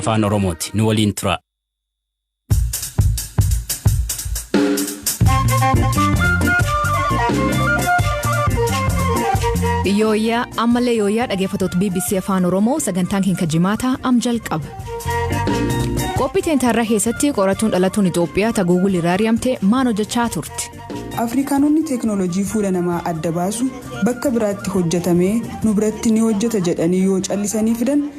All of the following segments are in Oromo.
Afaan Oromooti. Nu waliin turaa. Yooyyaa ammallee yooyyaa dhaggeeffattoota BBC Afaan Oromoo sagantaan keenya jimaataa am jalqaba. Qophii teentaarraa keessatti qorattuun dhalattuun Itoophiyaa ta Guugul irraa ari'amte maal hojjechaa turte? Afrikaanonni teeknooloojii fuula namaa adda baasu bakka biraatti hojjetamee nu biratti ni hojjeta jedhanii yoo callisanii fidan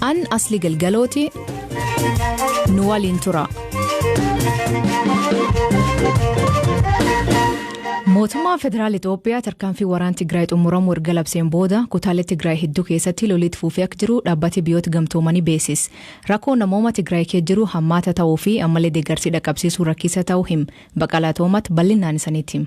An Asli Galgalooti nu waliin tura. Mootummaan Federaal Itoophiyaa tarkaanfii waraana Tigraay xumuramu erga labseen booda kutaalee Tigraay hedduu keessatti loliitti fufee akka jiru dhaabbati biyyoota gamtoomanii beeksise. Rakkoo namooma Tigraay keessa jiru hammaata ta'uu fi ammallee deeggarsi dhaqqabsiisuu rakkisaa ta'uu him. Baqalaa Toomat bal'inaan isaniitti him.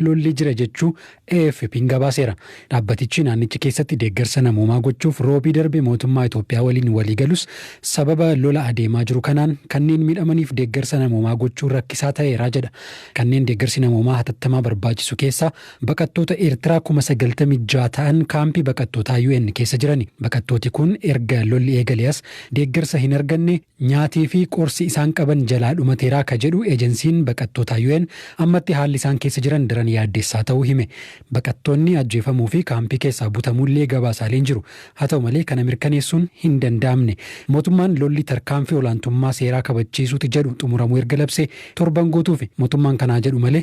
lolli jira jechuu AFP'n gabaaseera. Dhaabbatichi naannicha keessatti deeggarsa namoomaa gochuuf Roobii darbe mootummaa Itoophiyaa waliin walii galus sababa lola adeemaa jiru kanaan kanneen miidhamaniif deeggarsa namoomaa gochuun rakkisaa ta'eera jedha. Kanneen deeggarsi namoomaa hatattamaa barbaachisu keessaa baqattoota Eertiraa kuma 96 ta'an kaampii baqattootaa UN keessa jirani. Baqattooti kun erga lolli eegalee as deeggarsa hin arganne. Nyaatii fi qorsi isaan qaban jalaa dhumateera ka jedhu Ejensiin baqattootaa UN ammatti haalli isaan keessa jiran daran yaaddessaa ta'uu hime. Baqattoonni ajjeefamuu fi kaampii keessaa butamuu illee gabaasaaleen jiru. Haa ta'u malee kana mirkaneessuun hin danda'amne. Mootummaan lolli tarkaanfii olaantummaa seeraa kabachiisuuti jedhu xumuramuu erga labsee torban guutuufi. Mootummaan kanaa jedhu malee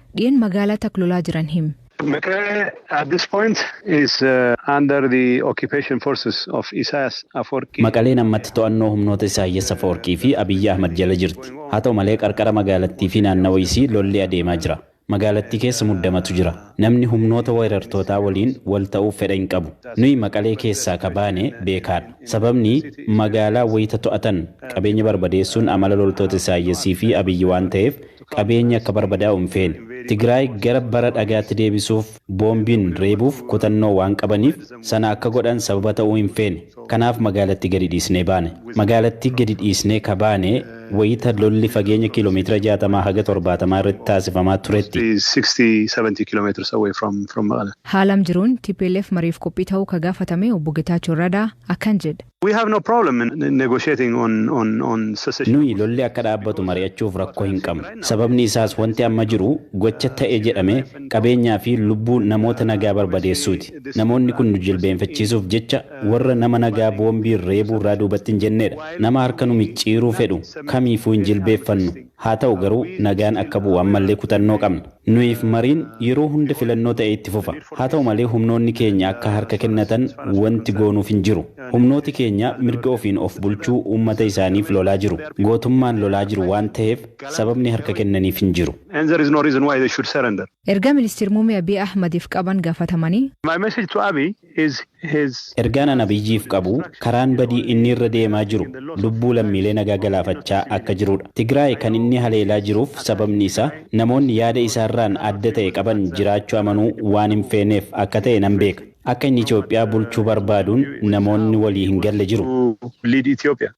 Dhiyen magaalaa tak lolaa jiran him. Mekelle at this point is under the occupation forces of Isayas Aforki. Maqaleen ammatti to'annoo humnoota Isaayyas Afawarqii fi Abiyyi Ahmad jala jirti. Haa ta'u malee qarqara magaalattii fi naannawa isii lolli adeemaa jira. Magaalattii keessa muddamatu jira. Namni humnoota weerartootaa waliin wal ta'uuf fedha hin qabu. Nuyi Maqalee keessaa ka baane beekaadha. Sababni magaalaa wayita to'atan qabeenya barbadeessuun amala loltoota Isaayyasii fi Abiyyi waan ta'eef Qabeenyi akka barbadaa'u hin feene. Tigraay gara bara dhagaatti deebisuuf boombiin reebuuf kutannoo waan qabaniif sana akka godhan sababa ta'uu hin feene. Kanaaf magaalatti gadi dhiisnee baane. Magaalattii gadi dhiisnee ka baane wayita lolli fageenya kiilomeetira 60 haga 70 irratti taasifamaa turetti. Haalam jiruun tplf mariif qophii ta'uu ka gaafatame Obbo Getachew Rada akkan jedh. We have no problem in negotiating on on on cessation. Nuyi lolli akka dhaabbatu mari'achuuf rakkoo hin qabnu. Sababni isaas wanti amma jiru gocha ta'e jedhame qabeenyaa fi lubbuu namoota nagaa barbadeessuuti. Namoonni kun nu jilbeenfachiisuuf jecha warra nama nagaa boombiin reebuu irraa duubatti hin jenneedha. Nama harka nu micciiruu fedhu kamiifuu hin jilbeeffannu. Haa ta'u garuu nagaan akka bu'u ammallee kutannoo qabna. Nuyiif mariin yeroo hunda filannoo ta'ee itti fufa. Haa ta'u malee humnoonni keenya akka harka kennatan wanti goonuuf hin jiru. Humnooti keenya mirga ofiin of bulchuu uummata isaaniif lolaa jiru. Gootummaan lolaa jiru waan taheef sababni harka kennaniif hin jiru. Ergaa Ministir Muummee Abiy Ahmadiif qaban gafatamanii. My message to Abiy, is his. Ergaan an Abiyyiif qabu karaan badii inni irra deemaa jiru lubbuu lammiilee nagaa galaafachaa akka jiruudha. Tigraay kan inni haleelaa jiruuf sababni isaa namoonni yaada isaarraan adda ta'e qaban jiraachu amanuu waan hin feeneef akka ta'e nan beeka. Akka inni Itoophiyaa bulchuu barbaaduun namoonni walii hin galle jiru.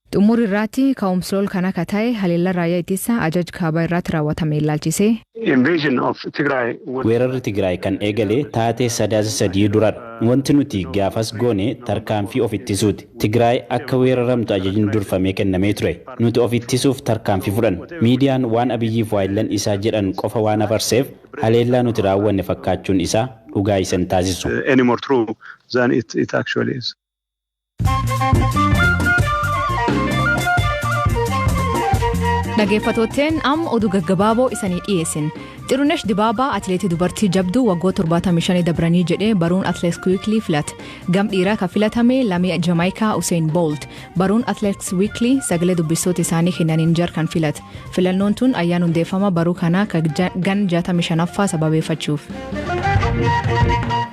Xummuri irraatti ka'umslool kan akka ta'e haleellan raayyaa ittissa ajaj kaabaa irraatti raawwatame illaalchisee. Invasion of Tigray was. Weerarri Tigraay kan eegale taatee Sadaasa 3 duradha. Wanti nuti gaafas goone tarkaanfii of ittisuuti. Tigraay akka weeraramtu ajajni durfamee kennamee ture. Nuti of ittisuuf tarkaanfii fudhanne. Miidiyaan waan Abiyyiif waayillan isaa jedhan qofa waan afarseef haleellaa nuti raawwanne fakkaachuun isaa dhugaa isa hin taasisu. anymore true than it actually is. Dhageeffattootteen am oduu gaggabaaboo isanii dhiyeessin. Xirunesh Dibaabaa atileetii dubartii jabduu waggoota 75 dabranii jedhee baruun atileet Wiikilii filate. Gam dhiiraa kan filatame lamii Jamaayikaa Useen Boolt. Baruun atileet Wiikilii sagalee dubbistoota isaanii kennaniin jar kan filate. Filannoon tun ayyaan hundeeffama baruu kanaa ka ja- gan 65ffaa sababeeffachuuf.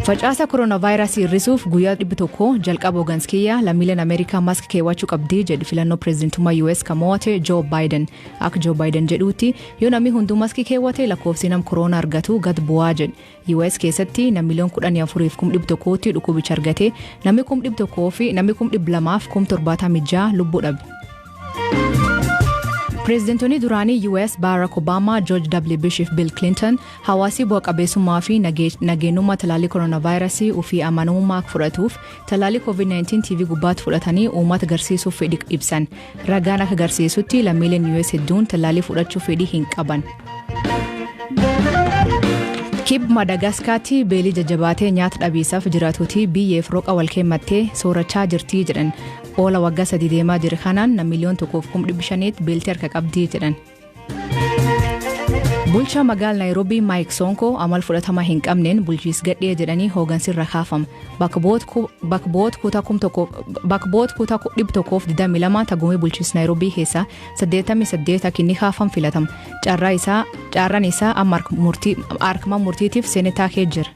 Facaasa koronaavaayirasii hir'isuuf guyyaa 100 jalqaba hoogans kiyya lammiileen Ameerikaa maask keewwachuu qabdi jedhe filannoo pireezidantummaa US kan mo'ate Joo Baayiden. Akka Joo Baayiden jedhuutti yoo namni hunduu maaskii keewwate lakkoofsi nam koroona argatu gad bu'aa jedhe. US keessatti namni miliyoon kudhanii afuriif kum dhibba tokkootti dhukkubicha argate namni kum dhibba tokkoo fi namni kum dhibba lamaaf kum torbaatamii ja'a lubbuu dhabe. Pireezidantoonni duraanii US Barack Obama, George W. Bush fi Bill Clinton hawaasii bu'a qabeessummaa fi nageenyummaa talaallii koronaavaayirasii ofii amanamummaa akka fudhatuuf talaallii COVID-19 TV gubbaatti fudhatanii uummata garsiisuuf fedhii ibsan. Ragaan akka garsiisutti lammiileen US hedduun tallaalii fudhachuu fedhii hin qaban. Kib Madaagaskaatti beelii jajjabaatee nyaata dhabiisaaf jiraatuuti biyyeef roqa wal keemmattee soorachaa jirtii jedhan. Oola waggaa sadii deemaa jiru kanaan na miliyoon tokkoof kum dhibbi shaniitti beeltee harka qabdii jedhan. Bulchaa magaal Naayiroobii Maayik Soonkoo amal fudhatama hin qabneen bulchiis gadhee jedhanii hoogansirra kaafama. Bakboot kutaa 122 tagumee bulchiis Naayiroobii keessaa 88 akka inni kaafam filatama. Carraan isaa amma harkuma murtiitiif seenetaa kee jira.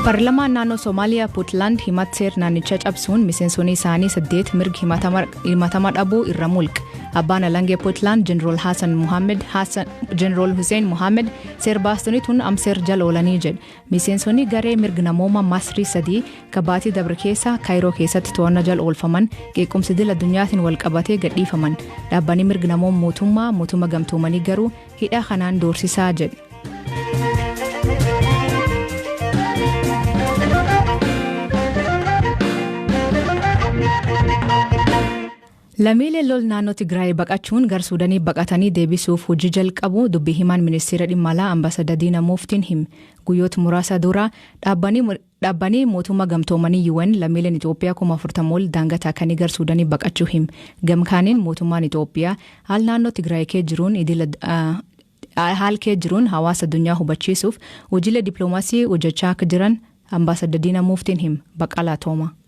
Paarlamaan naannoo Somaaliyaa Puutlaand himat seer naannichaa cabsuun miseensonni isaanii saddeet mirgi himatama dhabuu irra mulqe. Abbaan Alangee Puutlaand Jeneraal Haasan Muhammad Jeneraal Hussein Muhammad seer baastonni tun amseer jala oolanii jedhe. Miseensonni garee mirga namooma Masrii sadii kabaatii dabre keessa Kaayiroo keessatti to'annaa jala oolfaman qeequmsi dil addunyaatiin wal qabatee gadhiifaman. Dhaabbanni mirga namooma mootummaa mootummaa gamtoomanii garuu Hidhaa kanaan doorsisaa jedhu. Lamiileen lol naannoo Tigraay baqachuun gar Suudanii baqatanii deebisuuf hojii jalqabu dubbii himaan ministeera dhimma alaa ambaasadar Diina Muuftiin hime. Guyyoota muraasa dura dhaabbanni Dhaabbani Mootumma Gamtoomanii UN lammiileen Itoophiyaa kuma 40 ol daangaa taakanii gar Suudanii baqachuu him. Gam kaaniin mootummaan Itoophiyaa haal naannoo Tigraay kee jiruun idil haal kee jiruun hawaasa addunyaa hubachiisuuf hojiilee dippiloomaasii hojjechaa akka jiran Ambaasadda Diina Muuftiin him. Baqqalaa Toomaa.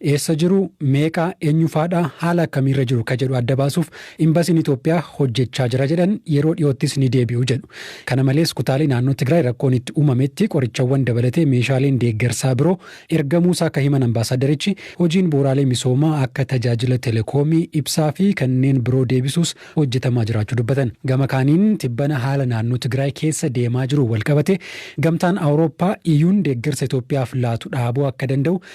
Eessa jiru, meeqa, eenyufaadha, haala akkamiirra jiru ka jedhu adda baasuuf Imbasiin Itoophiyaa hojjechaa jira jedhan, yeroo dhiyoottis ni deebi'u jedhu. Kana malees kutaalee naannoo Tigraay rakkoon itti uumametti qorichawwan dabalatee meeshaaleen deeggarsaa biroo ergamuusaa ka himan ambaasaaddarichi, hojiin bu'uuraalee misoomaa akka tajaajila telekoomii, ibsaa fi kanneen biroo deebisuus hojjetamaa jiraachuu dubbatan. Gama kaaniin tibbana haala naannoo Tigraay keessa deemaa jiruun walqabatee Gamtaan Awurooppaa, EUn, deeggarsa Itoophiyaaf laatu dhaabuu akka danda'u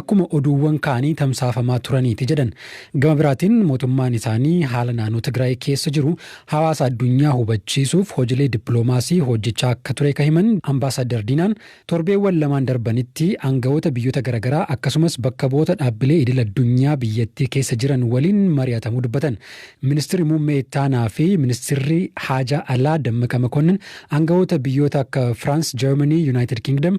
akkuma oduuwwan kaanii tamsaafamaa turaniiti jedhan. Gama biraatiin mootummaan isaanii haala naannoo Tigraay keessa jiru hawaasa addunyaa hubachiisuuf hojilee dippiloomaasii hojjechaa akka ture ka himan Ambaasaaddar Diinaan, torbeewwan lamaan darbanitti aanga'oota biyyoota garagaraa akkasumas bakka bu'oota dhaabbilee idil addunyaa biyyattii keessa jiran waliin mari'atamuu dubbatan. Ministirri Muummee Ittaanaa fi Ministirri Haajaa Alaa Dammaqa Makonnin aanga'oota biyyoota akka Firaans, Jarmanii, Yunaayitid Kingdom,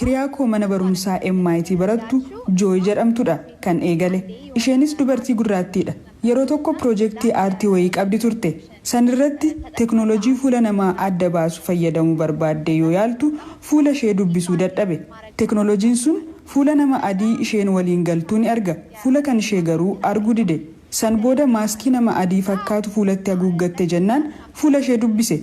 Hiriyaa koo mana barumsaa MIT barattu Jooy jedhamtudha kan eegale. Isheenis dubartii gurraattiidha. Yeroo tokko pirojektii aartii wayii qabdi turte. Sanirratti teknolojii fuula namaa adda baasu fayyadamuu barbaaddee yoo yaaltu fuula ishee dubbisuu dadhabe. Teknolojiin sun fuula nama adii isheen waliin galtuu ni arga, fuula kan ishee garuu arguu dide. San booda maaskii nama adii fakkaatu fuulatti haguuggatte jennaan fuula ishee dubbise.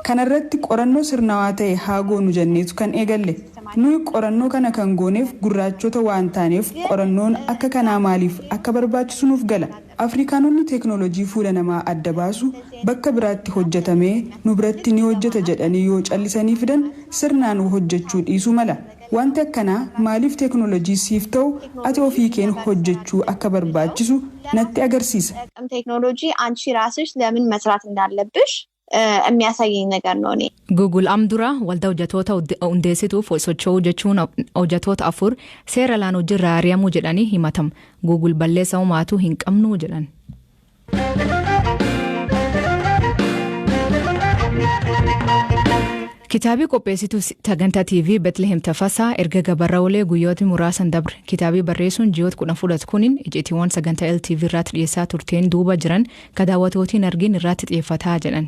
Kana irratti qorannoo sirnawaa ta'e haa goonu jenneetu kan eegalle. Nuyi qorannoo kana kan gooneef gurraachota waan taaneef qorannoon akka kanaa maaliif akka barbaachisu nuuf gala. Afrikaanonni teeknoolojii fuula namaa adda baasu bakka biraatti hojjetamee nu biratti ni hojjeta jedhanii yoo callisanii fidan sirnaan hojjechuu dhiisuu mala. Wanti akkanaa maaliif teeknoolojii siif ta'u ati ofiikeen hojjechuu akka barbaachisu natti agarsiisa. Aaqm teeknoolojii anchi raasish lemin masraat indaallebbish immiyasayyeny nagar no ne. Google am dura waldaa hojjatoota hundeessituuf wal socho'uu jechuun hojjatoota afur seera alaan hojjirraa ari'amuu jedhanii himatam. Google balleessa homaatu hin qabnu jedhan. Kitaabii qopheessituu sagantaa TV Betlehem Tafasaa erga gabarra olee guyyootni muraasan dabre kitaabii barreessuun ji'oota kudhan fudhatu kuniin icitiiwwan sagantaa LTV irraatti dhiyeessaa turteen duuba jiran ka daawwatootiin argiin irraatti xiyyeeffataa jedhan.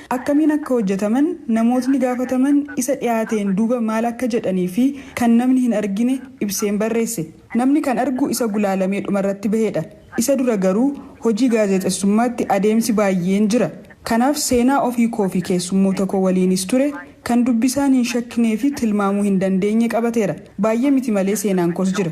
akkamiin akka hojjetaman, namootni gaafataman isa dhiyaateen duuba maal akka jedhanii fi kan namni hin argine ibseen barreesse. Namni kan argu isa gulaalamee dhumarratti bahedha. Isa dura garuu hojii gaazexessummaatti adeemsi baayyeen jira. Kanaaf seenaa ofii koo fi keessummoota koo waliinis ture kan dubbisaan hin shakknee fi tilmaamuu hin dandeenye qabateera. Baayye miti malee seenaan koos jira.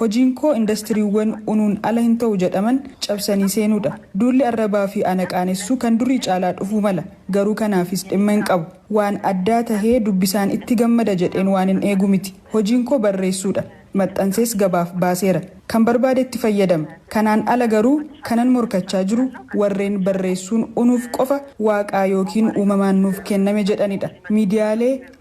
Hojiinkoo indastiriiwwan unuun ala hin ta'u jedhaman cabsanii seenuudha. Duulli arrabaafi ana qaanessuu kan durii caalaa dhufuu mala. Garuu kanaafis dhimma hin qabu. Waan addaa tahee dubbisaan itti gammada jedheen waanin eegu miti. Hojiinkoo barreessuudha. Maxxansees gabaaf baaseera. Kan barbaadetti fayyadama. Kanaan ala garuu kanan morkachaa jiru warreen barreessuun unuuf qofa waaqaa ykn uumamaan nuuf kenname jedhanidha. Miidiyaalee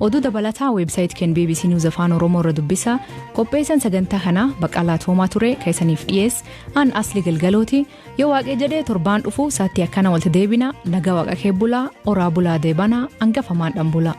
Oduu dabalataa website keen bbc News Afaan Oromoo irra dubbisa. Qopheessan sagantaa kanaa Baqqalaa Toomaa ture ka isaniif dhiyees an Asli Galgalooti. Yoo waaqee jedhee torbaan dhufu saattii akkana walti deebina nagaa waaqa kee bulaa oraa bulaa deebana angafamaan dhan bulaa.